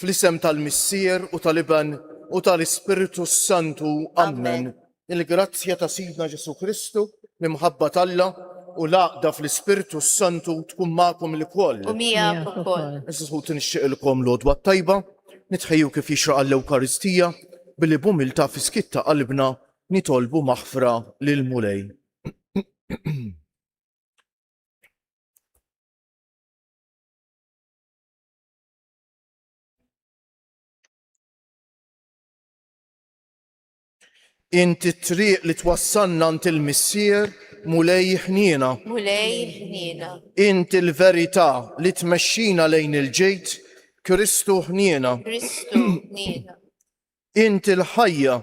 Fl-isem tal-Missier u tal-Iben u tal-Ispirtu s-Santu, ammen. Il-grazzja ta' Sidna Ġesù Kristu, l-imħabba t'Alla, u l-għaqda fl-Ispirtu s-Santu tkun magħkom ilkoll. U miegħek ukoll. Għażiż ħuti nixtieqilkom l-Għodwa t-Tajba, nitħejju kif jixraq għall-Ewkaristija, billi b'umiltà fis-skiet ta' qalbna nitolbu maħfra lill-Mulej. Inti t-triq li twassalna għand il-Missier, Mulej ħniena. Mulej ħniena. Inti l-verità li tmexxina lejn il-ġid, Kristu ħniena. Kristu ħniena. Inti l-ħajja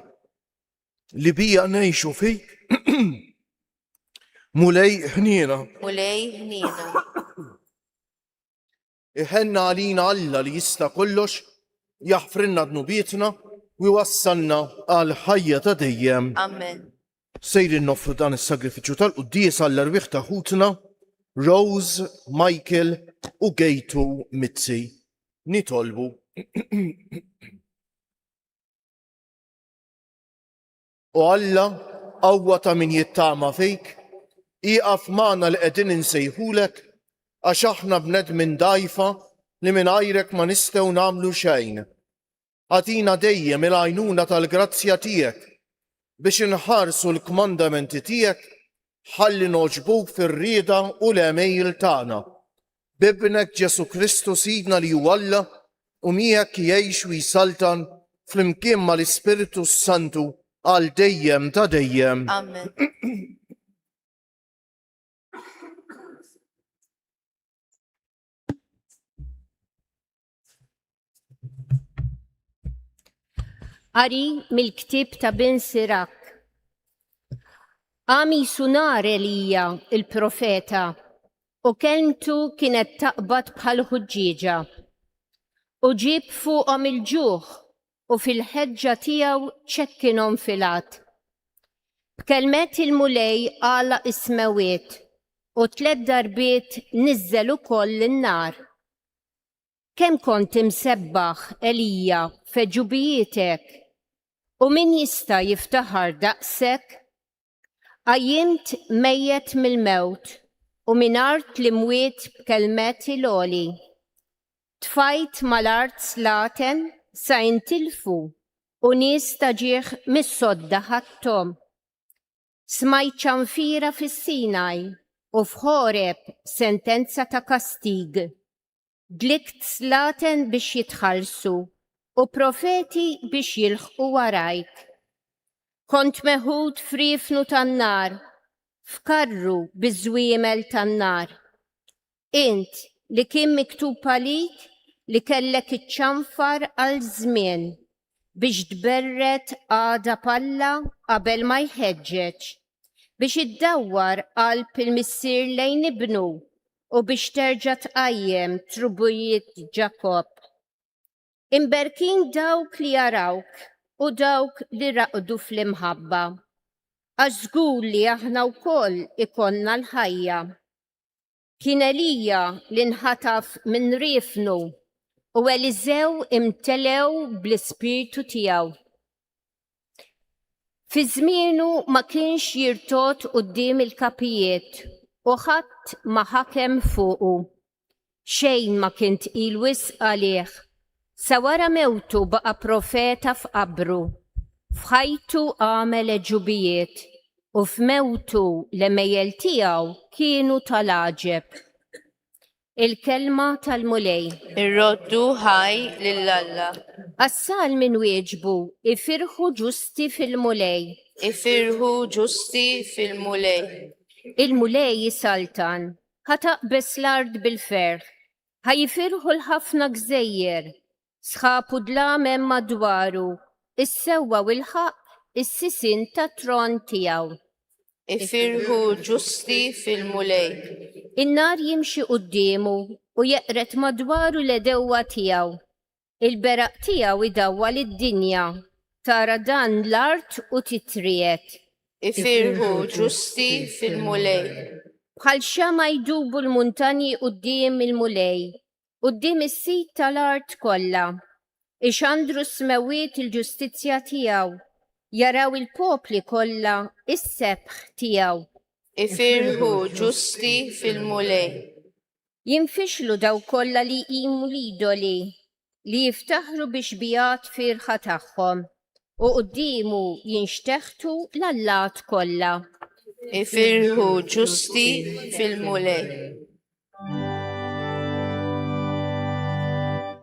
li bija ngħixu fik, Mulej ħniena. Mulej ħniena. Iħenna għalina Alla li jista' kollox, jaħfrilna dnubietna u jwassalna għal ħajja ta' dejjem. Amen. Sejrin noffru dan is-sagrifiċċju tal-quddies għall-erwieħ ta' ħutna Rose, Michael u Gejtu Mizzi. Nitolbu. O Alla, qawwa ta' min jittama fik, ieqaf magħna li qegħdin insejħulek, għax aħna bnedmin dgħajfa li mingħajrek ma nistgħu nagħmlu xejn. Agħtina dejjem il-għajnuna tal-grazzja tiegħek biex inħarsu l-kmandamenti tiegħek ħalli nogħġbuk fir-rieda u l-għemejjel tagħna. b'Ibnek Ġesù Kristu Sidna li hu Alla u miegħek jgħix u jsaltan flimkien mal-Ispirtu s-Santu għal dejjem ta' dejjem. Amen. Qari mill-ktieb ta' Bin Sirak. Għami sunar Elija il-profeta u kelmtu kienet taqbad bħal ħuġġieġa u ġib fuqhom il-ġuħ u fil-ħeġġa tiegħu ċekkinhom filat. B'kelmet il-mulej għala ismewiet u tlet darbiet niżżel ukoll in-nar. Kemm kont imsebbaħ, Elija, f'għeġubijietek, u min jista' jiftaħar daqshekk? Qajjimt mejjet mill-mewt u minn art l-imwiet b'kelmet il-għoli. Tfajt mal-art slaten sa intilfu u nies ta' ġieħ mis-sodda ħadthom. Smajt ċanfira fis-Sinaj u f'Ħoreb sentenza ta' kastig. Dlikt slaten biex jitħallsu u profeti biex jilħqu warajk. Kont meħud f'riefnu tan-nar, f'karru biż-żwiemel tan-nar. Int, li kien miktub għalik li kellek iċċanfar għal żmien biex tberred għadab Alla qabel ma jħeġġeġ, biex iddawwar qalb il-missier lejn ibnu u biex terġa' tqajjem trubijiet Ġakobb. Imberkin dawk li jarawk u dawk li raqdu fl-imħabba, għax żgur li aħna wkoll ikollna l-ħajja Kien Elija li nħataf minn riefnu u Eliżew imtelew bl-ispirtu tiegħu. Fi żmienu ma kienx jirtod quddiem il-kapijiet u ħadd ma ħakem fuqu. Xejn ma kien tqil wisq għalih. Sa wara mewtu baqa' profeta f'qabru. F'ħajtu għamel għeġubijiet u f'mewtu l-għemejjel tiegħu kienu ta' l-għaġeb. Il-Kelma tal-Mulej. Irroddu ħaj lil Alla. Għas-salmi nwieġbu, Ifirħu ġusti fil-Mulej. Ifirħu ġusti fil-Mulej. Il-Mulej isaltan Ħa taqbeż l-art bil-ferħ. Ħa jifirħu l-ħafna gżejjer. Sħab u dlam hemm madwaru, is-sewwa u l-ħaqq is-sisien tat-tron tiegħu. Ifirħu l-ġusti fil-Mulej. In-nar jimxi quddiemu u jeqred madwaru l-għedewwa tiegħu. Il-beraq tiegħu jdawwal id-dinja, tara dan l-art u titriegħed. Ifirħu ġusti fil-Mulej. Bħal xemgħa jdubu l-muntanji quddiem il-Mulej, quddiem is-Sid tal-art kollha. Ixandru s-smewwiet il-ġustizzja tiegħu, jaraw il-popli kollha s-sebħ tiegħu. Ifirħu ġusti fil-Mulej. Jinfixlu dawk kollha li jqimu l-idoli li jiftaħru bix-xbigħat fierħa tagħhom, u quddiemu jinxteħtu l-allat kollha. Ifirħu ġusti fil-Mulej.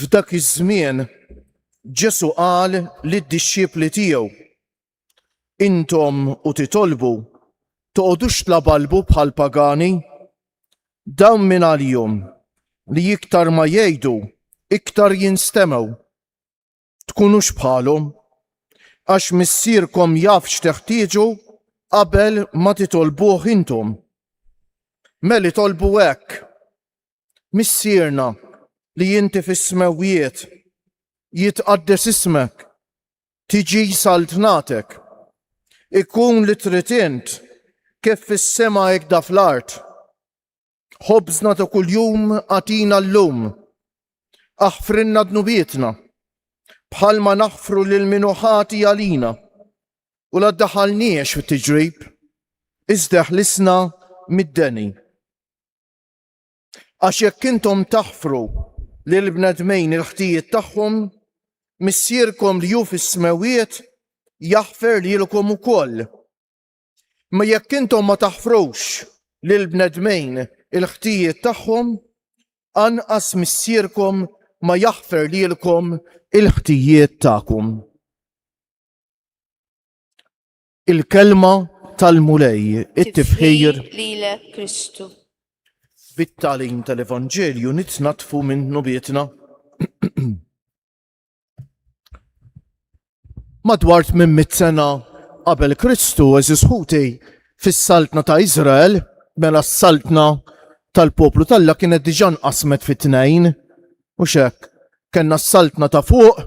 F'dak iż-żmien Ġesu qal lid-dixxipli tiegħu, Intom u titolbu, toqgħodux tlabalbu bħal pagani, dawn minn għalihom li iktar ma jgħidu, iktar jinstemgħu. tkunux bħalhom, għax missierkom jaf x'teħtieġu qabel ma titolbuh intom. Meli tolbu hekk, missierna li inti fis-smewwiet jitqaddes ismek, tiġi saltnatek, ikun li trid int kif fis-sema ikda fl-art. Ħobżna ta' kuljum għatina llum. Aħfrilna dnubietna bħalma naħfru lil min ħati għalina u la daħalniex fit-tiġrib iżda ħlisna mid-deni. Għax jekk intom taħfru lil bnedmejn il-ħtijiet tagħhom, Missierkom li hu fis-smewiet jaħfer lilkom ukoll. Imma jekk intom ma taħfrux lil bnedmejn il-ħtijiet tagħhom, anqas Missierkom ma jaħfer lilkom il-ħtijiet tagħkom. Il-kelma tal-Mulej, it-tifħir lilek Kristu. Bit-talim tal-Evanġelju nitnatfu minn nubietna. Madwar minn mit sena qabel Kristu eżis ħuti fis-saltna ta' Iżrael, mela s-saltna tal-poplu talla kienet diġà nqasmet fi tnejn u xek. Kenna s-saltna ta' fuq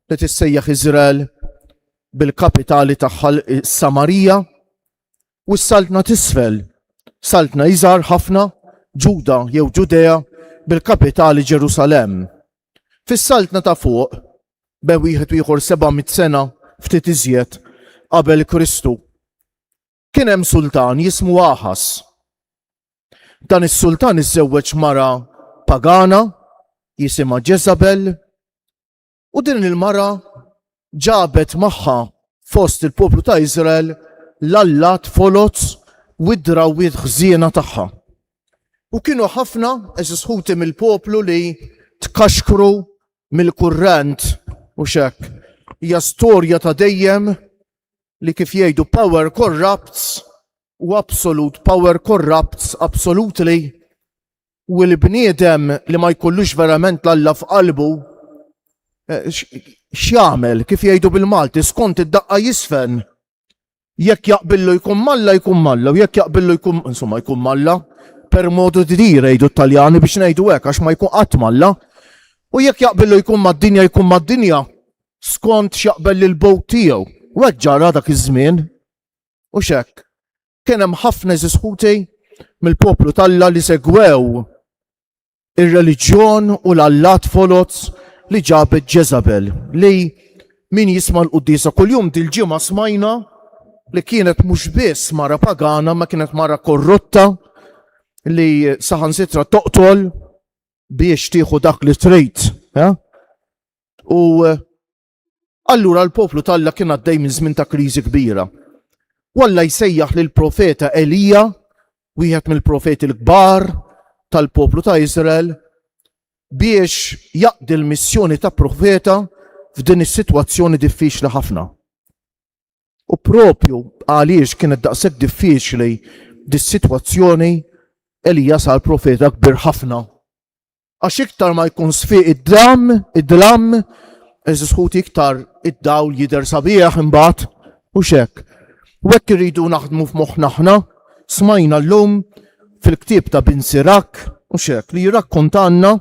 li tissejjaħ Iżrael bil-kapitali tagħha Samarija u s-saltna tisfel, saltna iżgħar ħafna Ġuda jew Ġudea bil-kapitali Ġerusalem. Fis-Saltna ta' Fuq, be wieħed u ieħor 700 sena ftit iżjed qabel Kristu, kien hemm sultan jismu Aħas. Dan is-sultan iżżewweġ mara pagana jisimha Ġeżabel u din il-mara ġabet magħha fost il-poplu ta' Iżrael l-allat foloz u d-drawwiet ħżiena tagħha. U kienu ħafna eżis ħuti mill-poplu li tkaxkru mill-kurrent u xek. Hija storja ta' dejjem li kif jgħidu power corrupts u absolute power corrupts absolutely U l-bniedem li ma jkollux verament l-Alla f'qalbu, eh, x'jagħmel kif jgħidu bil-Malti skont id-daqqa jisfen. Jekk jaqbillu jkun malla jkun malla, u jekk jaqbillu jkun insomma jkun malla, per modu di dire jgħidu t-Taljani biex ngħidu hekk għax ma jkun qatt malla. U jekk jaqbillu jkun mad-dinja jkun mad-dinja skont x'jaqbel lil bowt tiegħu. U hekk ġara dak iż-żmien u x'hekk Kien hemm ħafna eżis ħuti mill-poplu talla li segwew ir-reliġjon u l-allat foloz li ġabet Ġezabel li min jisma l-quddisa kuljum dil-ġimgħa smajna li kienet mhux biss mara pagana ma kienet mara korrotta li saħan sitra toqtol biex tieħu dak li trid. U Allura l-poplu t'Alla kien għaddej minn żmien ta' kriżi kbira. U Alla jsejjaħ lil profeta Elija, wieħed mill-profeti l-kbar tal-poplu ta' Iżrael, biex jaqdi l-missjoni ta' profeta f'din is-sitwazzjoni diffiċli ħafna. U propju għaliex kienet daqshekk diffiċli dis-sitwazzjoni Elija sar profeta kbir ħafna Għax iktar ma jkun sfiq id-dlam, id-dlam, eżis ħuti iktar id-dawl jider sabiħ imbagħad u xek. U hekk irridu naħdmu f'moħħna aħna, smajna llum fil-ktieb ta' Bin Sirak u xek li jirrakkontanna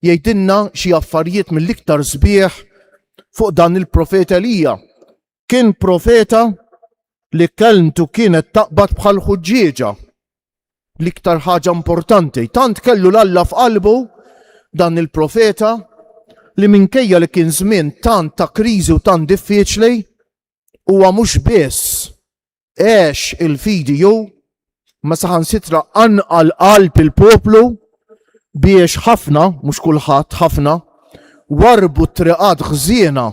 jgħidilna xi affarijiet mill-iktar sbieħ fuq dan il-profet Elija kien profeta li kelmtu kienet taqbad bħal ħuġġieġa l-iktar ħaġa importanti. Tant kellu l-Alla f'qalbu dan il-profeta li minkejja li kien żmien tant ta' kriżi u tant diffiċli huwa mhux biss Għex il-fidi ju ma saħansitra anqal qalb il-poplu biex ħafna, mhux kulħadd ħafna, warbu t-triqat ħżiena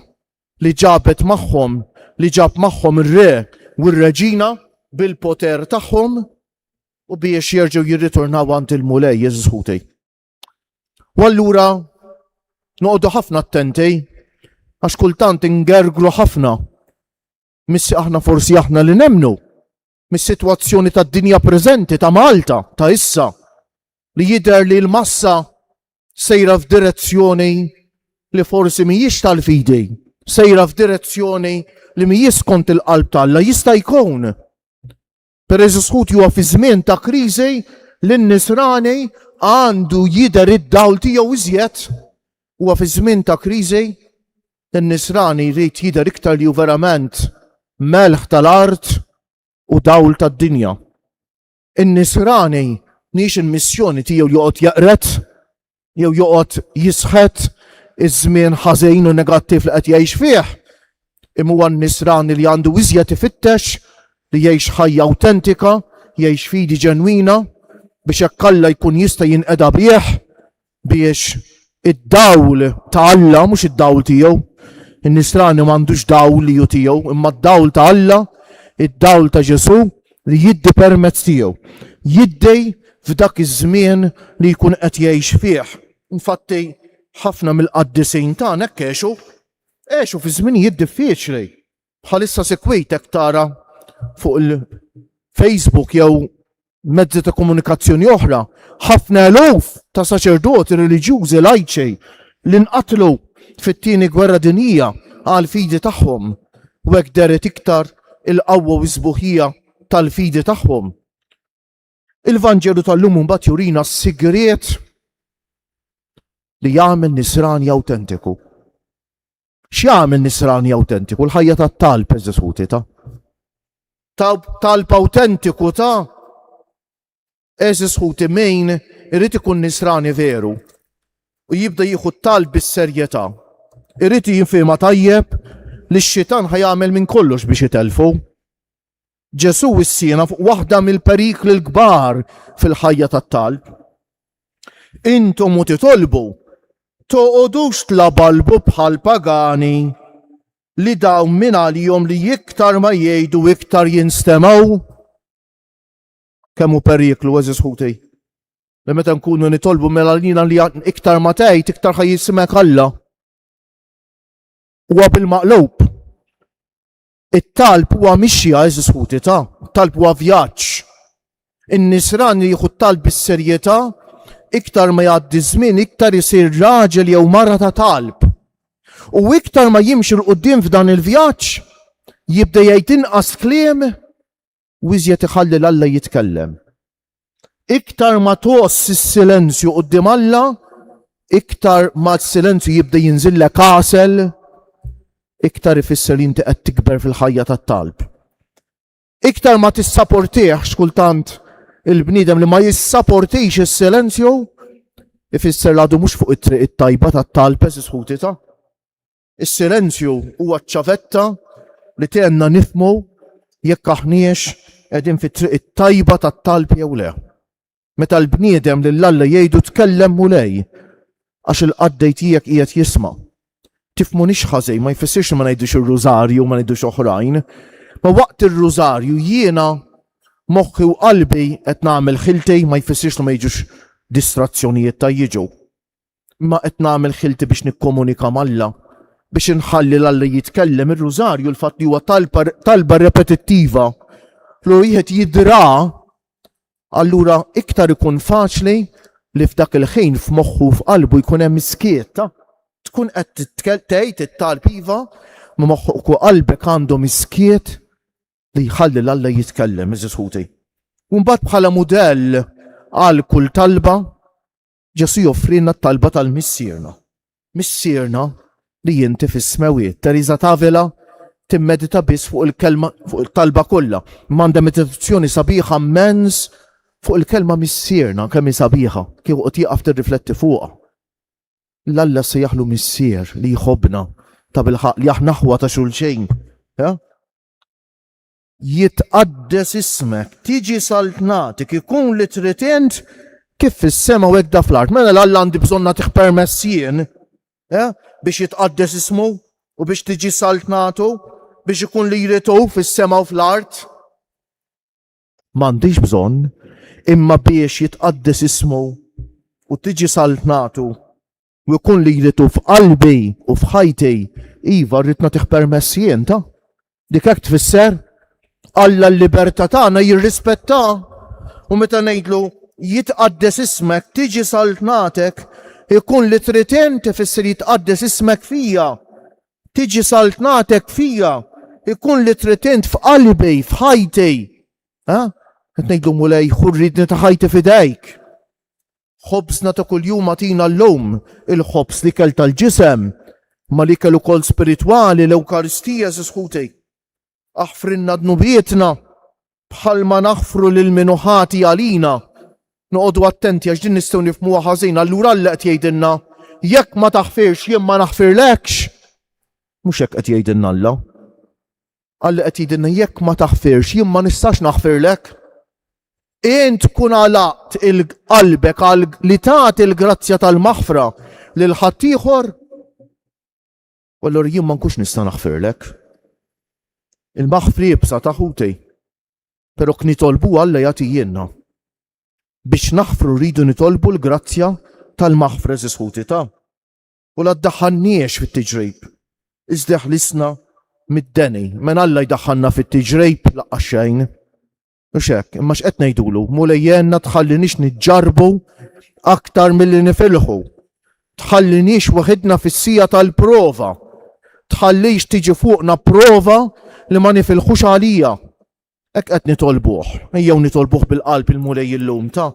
li ġabet magħhom li ġab magħhom ir-re u r-reġina bil-poter tagħhom u biex jerġgħu jirritornaw għand il-Mulej Jeżus Ħutej. U allura noqogħdu ħafna attenti għax kultant ingergru ħafna Missi aħna forsi aħna li nemmnu mis-sitwazzjoni tad-dinja preżenti ta' Malta ta' issa li jidher li l-massa sejra f'direzzjoni li forsi mhijiex tal-fidi, sejra f'direzzjoni li mhijiex kont il-qalb t'Alla jista' jkun Peress sħut huwa fi żmien ta' kriżi li n-Nisrani għandu jidher id-dawl tiegħu iżjed, huwa fi żmien ta' kriżi n-Nisrani jrid jidher iktar li hu verament melħ tal-art u dawl tad-dinja. In-Nisrani mhix il-missjoni tiegħu joqgħod jaqret jew joqgħod jisħet iż-żmien ħażin u negattiv li qed jgħix fih, imma huwa nisrani li għandu iżjed ifittex li jgħix ħajja awtentika, jgħix fidi ġenwina biex hekk Alla jkun jista' jinqeda bih biex id-dawl ta' Alla mhux id-dawl tiegħu. In-nisrani m'għandux dawl li ju tiegħu, imma d-dawl ta' Alla, id-dawl ta' Ġesu' li jiddi permezz tiegħu, jiddi f'dak iż-żmien li jkun qed jgħix fih. Infatti, ħafna mill-qaddisin tagħna hekk għexu, għexu fi żminijiet diffiċli. Bħalissa sikwit hekk tara fuq il-Facebook jew mezzi ta' komunikazzjoni oħra, ħafna eluf ta' saċerdoti reliġjużi lajċi li nqatlu fit-tieni gwerra dinija għal fidi tagħhom u hekk deret iktar il-qawwa u s-sbuħija tal-fidi tagħhom. Il-Vanġelu tal-lum imbagħad jurina s-sigriet li jagħmel nisrani awtentiku. X'jagħmel nisrani awtentiku? L-ħajja tat-talb eżisuti ta' talb awtentiku ta' Eżis ħuti min irid ikun nisrani veru u jibda jieħu tal bis-serjetà. Irid jinfihma tajjeb li x-xitan ħajamel minn kollox biex itelfu. Ġesu wissiena fuq waħda mill-perikli l-kbar fil-ħajja tat-talb. Intom u titolbu toqodux tlabalbu bħal pagani li dawn minn għalihom li iktar ma jgħidu iktar jinstemaw. Kemm hu periklu, eżis ħuti. Li meta nkunu nitolbu mela l-jina li iktar ma tgħid, iktar ħaj jisimek Alla. Huwa bil-maqlub. It-talb huwa mixja eżis ħuti ta' talb huwa vjaġġ. In-nisran li jieħu talb bis-serjetà iktar ma jgħaddi żmien iktar isir raġel jew mara ta' talb. U iktar ma jimxi l-qudiem f'dan il-vjaġġ jibda jgħid inqas kliem u iżjed iħalli l Alla jitkellem. Iktar ma tgħoss is-silenzju quddiem Alla, iktar ma s-silenzju jibda jinżillek għasel, iktar ifisser li inti qed tikber fil-ħajja tat-talb. Iktar ma tissaportih xkultant il-bniedem li ma jissaportix is-silenzju, ifisser l-għadu mhux fuq it-triq it-tajba tat-talb eżis ta' Is-silenzju huwa ċ-ċavetta li tgħinna nifhmu jekk aħniex qegħdin fit-triq it-tajba tat-talb jew le. Meta l-bniedem lil Alla jgħidu tkellem Mulej, għax il-qaddej tiegħek qiegħed jisma'. Tifhmunix ħażin, ma jfissirx li ma ngħidux ir-rużarju u ma ngħidux oħrajn. Ma waqt ir-rużarju jiena moħħi u qalbi qed nagħmel ħiltej ma jfissirx li ma jiġux distrazzjonijiet ta' jiġu. Ma qed nagħmel ħilti biex nikkomunika m'Alla, biex inħalli l-Alla jitkellem. Ir-Rużarju l-fatt li huwa talba repetittiva li wieħed jidra allura iktar ikun faċli li f'dak il-ħin f'moħħu f'qalbu jkun hemm iskiet. Tkun qed tgħid it-talb iva ma moħħok u qalbek għandhom iskiet li jħalli l-Alla jitkellem, iżisħuti. Umbat bħala mudell għal kull talba, Ġesù joffrilna t-talba tal-Missierna. Missierna li jinti fis-smewiet. Teresa Tavela timmedita biss fuq il-kelma fuq il-talba kollha. M'għandha meditazzjoni sabiħa mens fuq il-kelma missierna kemm hi sabiħa kieku qed jieqaf tirrifletti fuqha. L-Alla se jaħlu missier li jħobbna ta' bilħaq li aħna ħwa ta' xulxejn. Jitqaddes ismek, tiġi saltnatik, ikun li trid int, kif fis-sema u hekk da fl-art. Mela l-Alla għandi bżonn nagħtih permess jien, eh, biex jitqaddes ismu u biex tiġi saltnatu, biex ikun li jrid hu fis-sema u fl-art. M'għandix bżonn, imma biex jitqaddes ismu u tiġi saltnatu U jkun li jritu f'qalbi u f'ħajti, iva rrid nagħtih permess jien ta'. Dik hekk tfisser Alla l-libertà tagħna jirrispetta u meta ngħidlu jitqaddes ismek, tiġi saltnatek, ikun li trid inti fisser jitqaddes ismek fija. Tiġi saltnatek fija, ikun li trid int f'qalbi, f'ħajti. Ha? Qed ngħidu mulej ħurridni ta' ħajti fidejk. Ħobżna ta' kuljum agħtina llum, il-ħobż l-ikel tal-ġisem, ma l-ikel ukoll spiritwali, l-Ewkaristija, għeżież ħuti. Aħfrilna dnubietna bħalma naħfru lil min hu ħati għalina. Noqogħdu attenti għax din nistgħu nifhmuha ħażin, allura Alla qed jgħidilna, jekk ma taħfirx jien ma naħfirlekx. Mhux hekk qed jgħidilna Alla. Qal li qed jgħidilna jekk ma taħfirx jien ma nistax naħfirlek. Int tkun għalaqt il-qalbek għal li tagħti l-grazzja tal-maħfra lil ħaddieħor U allura jien ma nkunx nista' naħfirlek. Il-maħfri ibsa ta' ħutej. Però knitolbu Alla jagħti jienna. Biex naħfru rridu nitolbu l-grazzja tal-maħfra żisħuti ta' u la ddaħħalniex fit-tiġrib, iżda ħlisna mid-deni. Men Alla jdaħħalna fit-tiġrib laqqa xejn. Mhux hekk, imma x'qed ngħidulu, mulej jenna tħallinix niġġarbu aktar milli nifilħu. Tħallinix waħidna fis-sija tal-prova. Tħallix tiġi fuqna prova li ma nifilħux għalija. Hekk qed nitolbuh, ejjew nitolbuh bil-qalb il-Mulej illum ta'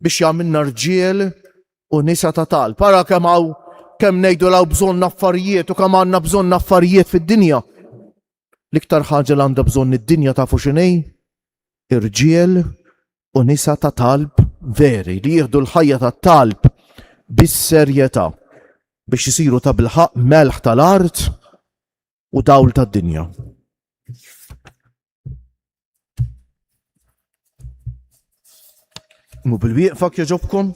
biex jagħmilna rġiel u nisa ta' talb. Ara kemm hawn kemm ngħidu law bżonn affarijiet u kemm għandna bżonn affarijiet fid-dinja. L-iktar ħaġa li għandha bżonn id-dinja tafu x'inhi? Irġiel u nisa ta' talb veri li jieħdu l-ħajja ta' talb bis-serjetà biex isiru ta' bilħaq melħ tal-art u dawl tad-dinja. Mu bil-wieqfa kieġobkom?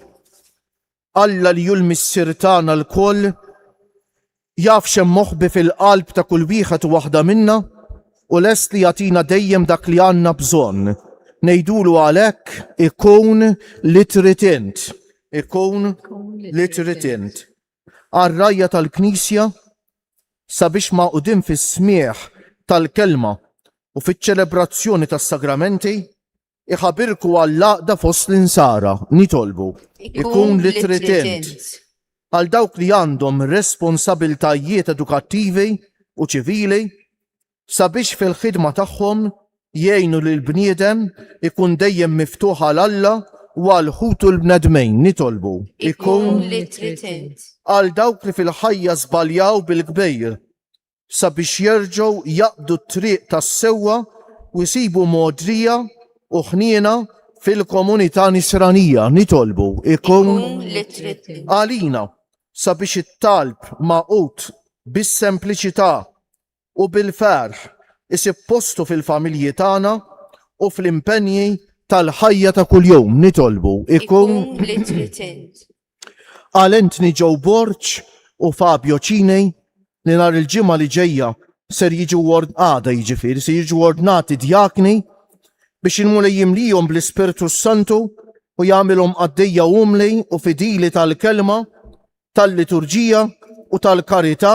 Alla li jul missir tagħna l-koll jaf xem moħbi fil-qalb ta' kull wieħed u waħda minna u lest li jatina dejjem dak li għanna bżonn. Nejdulu għalek ikun li tritint. Ikun li tritint. għar-rgħajja tal-Knisja sabiex magħqudin fis-smigħ tal-Kelma u fiċ-ċelebrazzjoni tas-Sagramenti jħabirku għall-għaqda fost l-Insara. Nitolbu, ikun li trid int, għal dawk li għandhom responsabiltajiet edukattivi u ċivili, sabiex fil-ħidma tagħhom jgħinu lill-bniedem ikun dejjem miftuħ għal Alla u għal ħutu l-bnedmin, nitolbu. Ikun li trid int. Għal dawk li fil-ħajja żbaljaw bil-kbir, sabiex jerġgħu jaqbdu t-triq tas-sewwa u jsibu mogħdrija u ħniena fil-komunità nisranija, nitolbu. Ikun li trid int. Għalina, sabiex it-talb magħqud bis-sempliċità u bil-ferħ isib postu fil-familji tagħna u fl-impenji tal-ħajja ta' kuljum. Nitolbu ikun li trid int. Qal Anthony Joe Borg u Fabio Cini li nhar il-ġimgħa li ġejja ser jiġu għada jiġifieri se jiġu ordnati djakni biex il-Mulej jimlijhom bl-Ispirtu s-Santu u jagħmilhom qaddejja umli u fidili tal-kelma tal-liturġija u tal-karità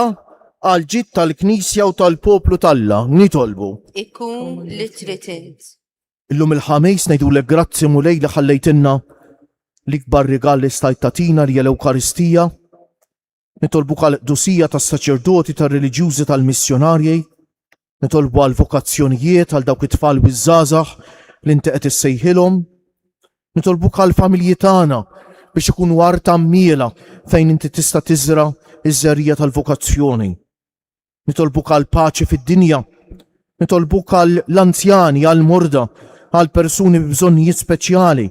għal ġid tal-Knisja u tal-poplu t'Alla. Nitolbu. Ikun li trid int. Illum il-ħamis ngħidulek grazzi Mulej li ħallejtilna l-ikbar rigal li stajt tatina li l-Ewkaristija. Nitolbu għal qdusija tas-saċerdoti, tar-reliġjużi, tal-missjonarji, Nitolbu għal vokazzjonijiet għal dawk it-tfal u żgħażagħ li inti qed issejħilhom. Nitolbu għal familji tagħna biex ikunu għar tammila fejn inti tista' tiżra iż-żerrija tal-vokazzjoni. Nitolbu għal paċi fid-dinja. Nitolbu għal l-anzjani, għal morda, għal persuni b'bżonnijiet speċjali,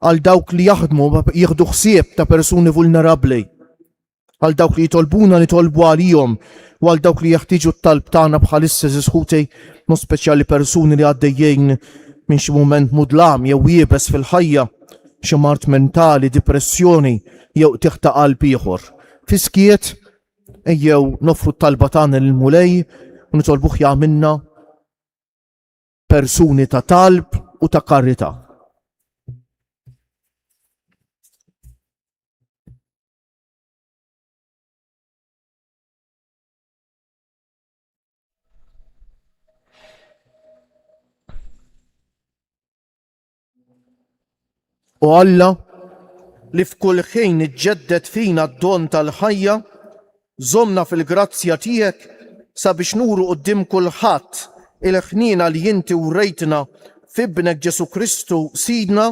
għal dawk li jaħdmu jieħdu ħsieb ta' persuni vulnerabbli. Għal dawk li jitolbuna nitolbu għalihom u għal dawk li jeħtieġu t-talb tagħna bħalissa żiż ħutej, mod speċjali persuni li għaddejjin minn xi mument mudlam jew iebes fil-ħajja, xi mard mentali, dipressjoni jew qtigħ ta' qalb ieħor. Fis-skiet, ejjew noffru t-talba tagħna lill-Mulej u nitolbuh jagħmilna persuni ta' talb u ta' karità. U Alla li f'kull ħin iġġedded fina d-don tal-ħajja, żomna fil-grazzja tiegħek sabiex nuru qudiem kulħadd il-ħniena li inti wrejtna f'Ibnek Ġesù Kristu Sidna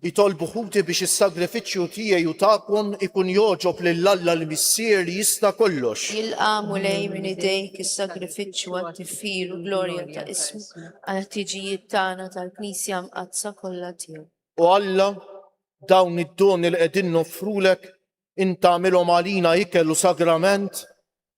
Itolbu ħuti biex is-sagrifiċċju tiegħi u tagħkom ikun jogħġob lil Alla l-Missier li jista' kollox. Jilqa' Mulej minn idejk is-sagrifiċċju għat-tifħir u glorja ta' ismu għall-ħtiġijiet tagħna tal-Knisja Mqaddsa kollha tiegħu. O Alla, dawn id-doni li qegħdin noffrulek, int agħmilhom għalina ikel u sagrament,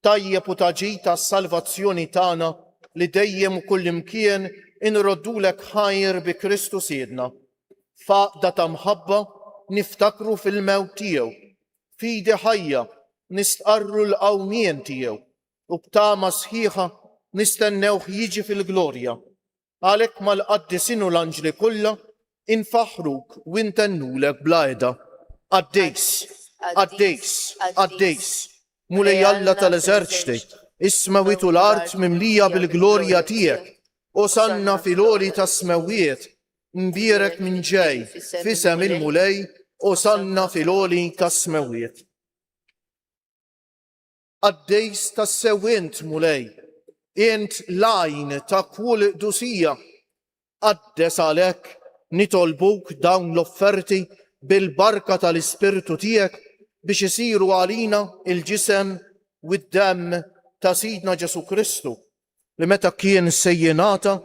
Tajjeb u ta' ġid għas-salvazzjoni tagħna li dejjem u kullimkien inroddulek ħajr bi Kristu Sidna. F'għaqda ta' mħabba niftakru fil-mewt tiegħu, f'idi ħajja nistqarru l-qawmien tiegħu u b'tama sħiħa nistennewh jiġi fil-glorja. Għalhekk mal-qaddisin u l-anġli kollha infaħħruk u ntennulek bla heda, Qaddis, qaddis, qaddis, Mulej Alla tal-eżerċti, is-smewwiet u l-art mimlija bil-glorja tiegħek, Osanna fil-għoli tas-smewwiet, mbierek min ġej f'isem il-Mulej, Osanna fil-għoli tas-smewwiet. Qaddis tassew int, Mulej, int l-għajn ta' kull qdusija. Qaddes għalhekk nitolbuk dawn l-offerti bil-barka tal-Ispirtu tiegħek biex isiru għalina l-ġisem u d-demm ta' Sidna Ġesù Kristu, li meta kien se jingħata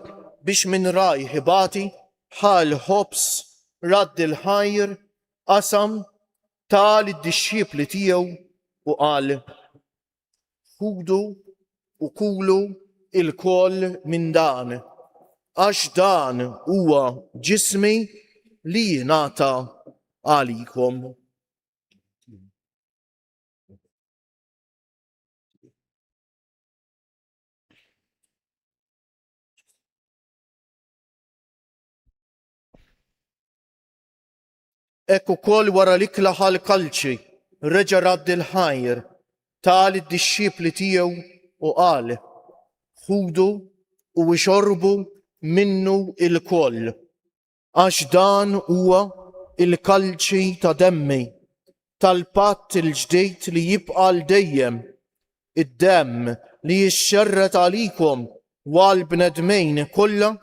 biex minn rajh ibati, ħa l-ħobż, radd il-ħajr, qasam ta lid-dixxipli tiegħu u qal, Ħudu u kulu ilkoll minn dan, għax dan huwa ġismi li jingħata għalikom. Hekk ukoll wara li klaħa l-kalċi reġa' radd il-ħajr ta' lid-dixxipli tiegħu u qal, Ħudu u ixorbu minnu ilkoll, għax dan huwa l-kalċi ta' demmi tal-patt il-ġdid li jibqa' għal dejjem, id-demm li jixxerred għalikom u għall-bnedmin kollha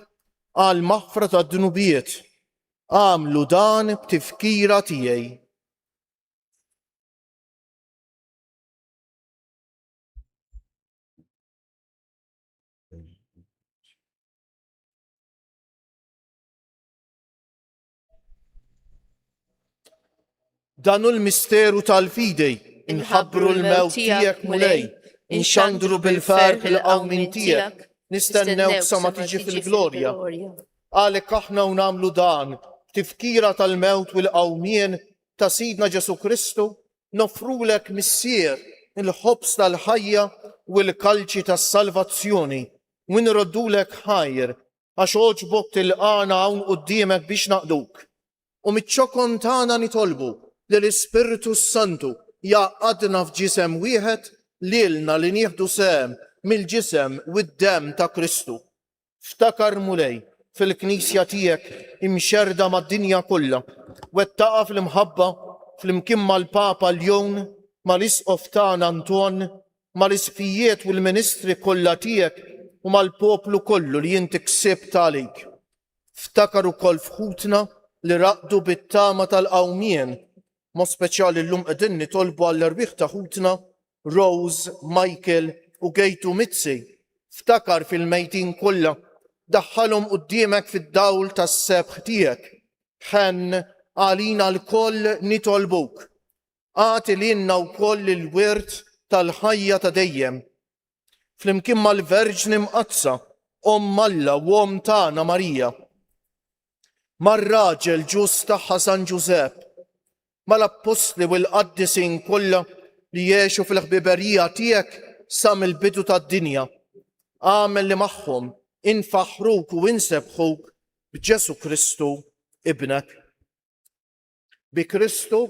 għall-maħfra tad-dnubiet. Agħmlu dan b'tifkira tiegħi. Dan hu l-misteru tal-fidi, inħabbru l-mewt tiegħek, Mulej, inxandru bil-ferħ il-qawmin tiegħek, nistennew sa ma tiġi fil-glorja. Għalhekk aħna u nagħmlu dan, tifkira tal-mewt u l-qawmien ta' Sidna Ġesu Kristu, nofrulek missier il-ħobs tal-ħajja u l-kalċi tas-salvazzjoni, u nroddulek ħajr, għax oġbok tilqana hawn qudiemek biex naqduk. u miċ-ċokon tagħna nitolbu li l-Ispirtu s-Santu jgħaqqadna f'ġisem wieħed lilna li nieħdu sehem mill-ġisem u d-demm ta' Kristu. Ftakar, Mulej, fil-Knisja tiegħek imxerrda mad-dinja kollha, wettaqha fl-imħabba flimkien mal-Papa Ljon, mal-Isqof tagħna Anton, mal-Isqfijiet u l-ministri kollha tiegħek u mal-poplu kollu li inti ksibt għalik. Ftakar ukoll f'ħutna li raqdu bit-tama tal-qawmien, mod speċjali llum qegħdin nitolbu għall-erwieħ ta' ħutna Rose, Michael u Gaytu Mizzi. Ftakar fil-mejtin kollha. Daħħalhom quddiemek fid-dawl tas-sebħ tiegħek. Ħenn għalina lkoll nitolbuk. Agħti lilna wkoll il-wirt tal-ħajja ta' dejjem. flimkien mal-Verġni Mqaddsa, Omm Alla u Omm tagħna Marija, mar-raġel ġust tagħha San Ġużepp, mal-Appostli u l-Qaddisin kollha li għexu fil-ħbiberija tiegħek sa mill-bidu tad-dinja, agħmel li magħhom infaħħruk u nsebbħuk b'Ġesù Kristu, Ibnek. Bi Kristu,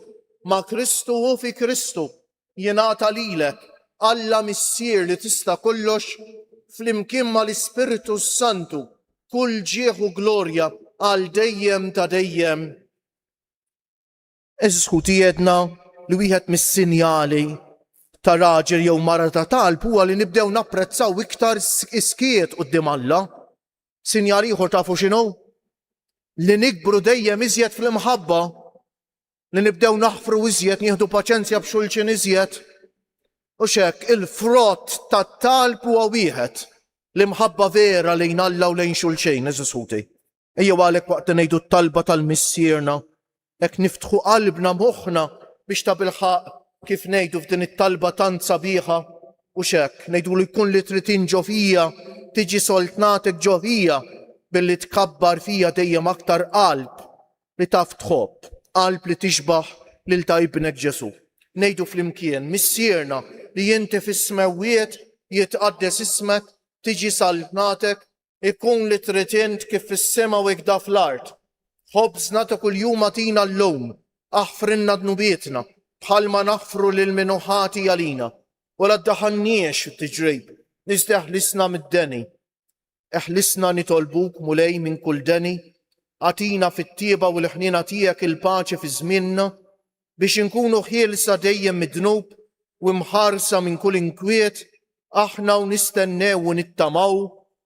ma' Kristu u fi Kristu jingħata lilek, Alla Missier li tista' kollox, flimkien mal-Ispirtu s-Santu, kull ġieħ u glorja għal dejjem ta' dejjem. Għeżież ħuti għedna li wieħed mis-sinjali ta' raġel jew mara ta' talb huwa li nibdew napprezzaw iktar is-skiet quddiem Alla. Sinjal ieħor tafu x'inhu? Li nikbru dejjem iżjed fl-imħabba, li nibdew naħfru iżjed, nieħdu paċenzja b'xulxin iżjed. U xek, il-frott tat-talb huwa wieħed l-imħabba vera lejn Alla u lejn xulxin, eżisħuti. Ejjew għalhekk waqt li ngħidu t-talba tal-missierna Hekk niftħu qalbna, moħħna, biex tabilħaqq, kif ngħidu f'din it-talba tant sabiħa, hux hekk, ngħidulu jkun li trid int ġo fija, tiġi soltnatek ġo fija, billi tkabbar fija dejjem aktar qalb li taf tħobb, qalb li tixbah lil ta' Ibnek Ġesu'. Ngħidu flimkien, Missierna li inti fis-smewwiet, jitqaddes ismek, tiġi saltnatek, Ikun li trid int kif fis-sema u ikda fl-art. Ħobżna ta' kuljum agħtina llum. Aħfrilna dnubietna, bħalma naħfru lil min hu ħati għalina. U la ddaħħalniex f'tiġrib, iżda eħlisna mid-deni. Eħlisna nitolbuk, Mulej, minn kull deni. Agħtina fit-tjieba u l-ħniena tiegħek il-paċi fi żmienna. biex inkunu ħielsa dejjem mid-dnub u imħarsa minn kull inkwiet, aħna u nistennew u nittamaw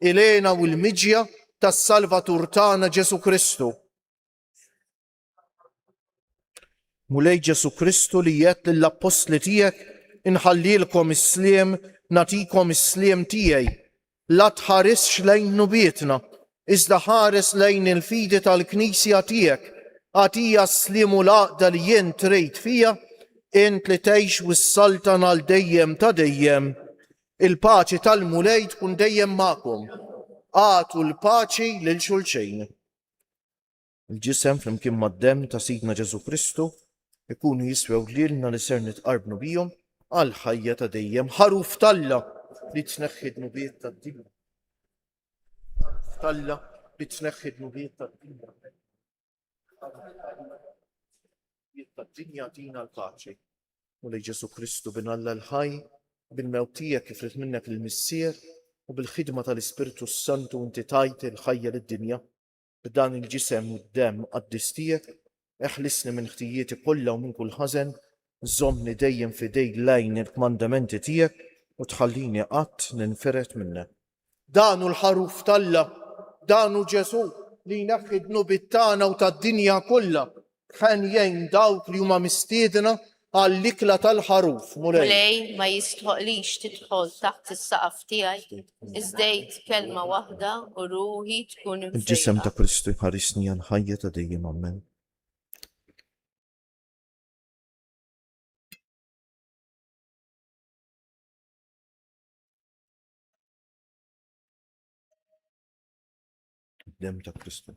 il-għena u l-miġja tas-Salvatur tagħna Ġesù Kristu. Mulej Ġesù Kristu li jgħedt lill-appostli tiegħek inħallilkom is-sliem nagħtikom is-sliem tiegħi La tħarisx lejn dnubietna, iżda ħares lejn il-fidi tal-Knisja tiegħek, agħtiha s-sliem u l-għaqda li int trid fiha, int li tgħix u ssaltan għal dejjem ta' dejjem. Il-paċi tal-Mulej tkun dejjem magħkom. Agħtu l-paċi lil xulxejn. Il-Ġisem flimkien mad-Demm ta' Sidna Ġesù Kristu jkunu jiswew lilna li ser nitqarbnu bihom għall-ħajja ta' dejjem. Ħaruf t'Alla li tneħħi d-dnubiet tad-dinja. Ħaruf t'Alla li tneħħi d-dnubiet tad-dinja. Tad-dinja tina l-paċi. U li Ġesù Kristu bin Alla l-ħaj bil-mewt tiegħek kif rid minnek il-Missier u bil-ħidma tal-Ispirtu s-Santu inti tajt il-ħajja lid-dinja. B'dan il-ġisem u d-demm qaddis tiegħek, eħlisni minn ħtijieti kollha u minn kull ħażen, żommni dejjem f'idejk lejn il-kmandamenti tiegħek u tħallini qatt ninfired minnek. Dan hu l-Ħaruf t'Alla, dan hu Ġesù li jneħħi d-dnubiet tagħna u tad-dinja kollha. Ħen jgħin dawk li huma mistiedna għall-ikla tal-ħaruf, Mulej. Mulej, ma jistħoqlix tidħol taħt is-saqaf tiegħi, iżdejt kelma waħda u ruħi tkun imfejqa. Il-ġisem ta' Kristu jħarisni għal ħajja ta' dejjem Ammen. Dem ta' Kristu.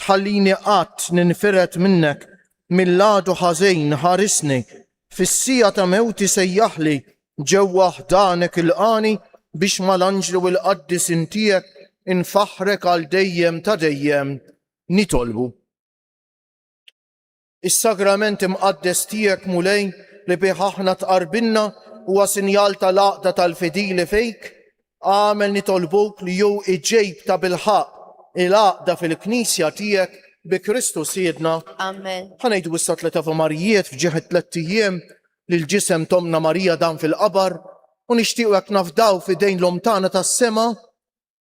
tħallini qatt ninfired minnek mill-għadu ħażin ħarisni fis-siegħa ta' mewti sejjaħli ġewwa ħdanek ilqagħni biex mal-anġli u l-qaddisin tiegħek infaħħrek għal dejjem ta' dejjem nitolbu. Is-Sagrament Imqaddes tiegħek, Mulej, li bih aħna tqarbilna, huwa sinjal tal-għaqda tal-fidili fik, għamel nitolbuk li hu iġġejb ta' bilħaq il-għaqda fil-Knisja tiegħek bi Kristu Sidna. Amen. Ħanejdu issa tliet Ave Marijiet f'ġieħ it-tlett ijiem li l-ġisem tomna Marija dan fil-qabar u nixtiequ hekk nafdaw f'idejn l-Omm tagħna tas-sema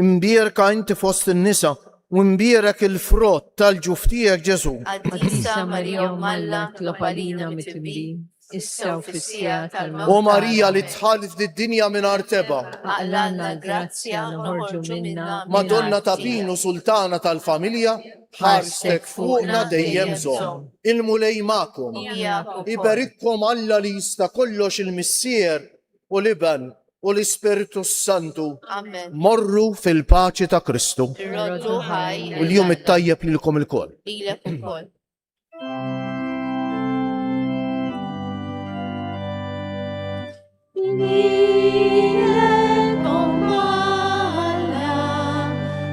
Imbierka inti fost in-nisa u imbierek il-frott tal-ġuf tiegħek Ġesù. Qaddisa Marija Omm Alla tlob għalina mitibin, issa u fis-siegħa tal-mewt. O Marija li dħalt fid-dinja mingħajr tebgħa. Aqlalna l-grazzja noħorġu minnha. Madonna ta' Pin u Sultana tal-Familja, ħarstek fuqna dejjem żomm. Il-Mulej magħkom. Iberikkom Alla li jista' kollox il-Missier u l-Iben u l-Ispirtu s-Santu. Amen. Morru fil-paċi ta' Kristu. Irroddu ħaj. U l-jum it-tajjeb lilkom il-koll. Lilek ukoll. Lilek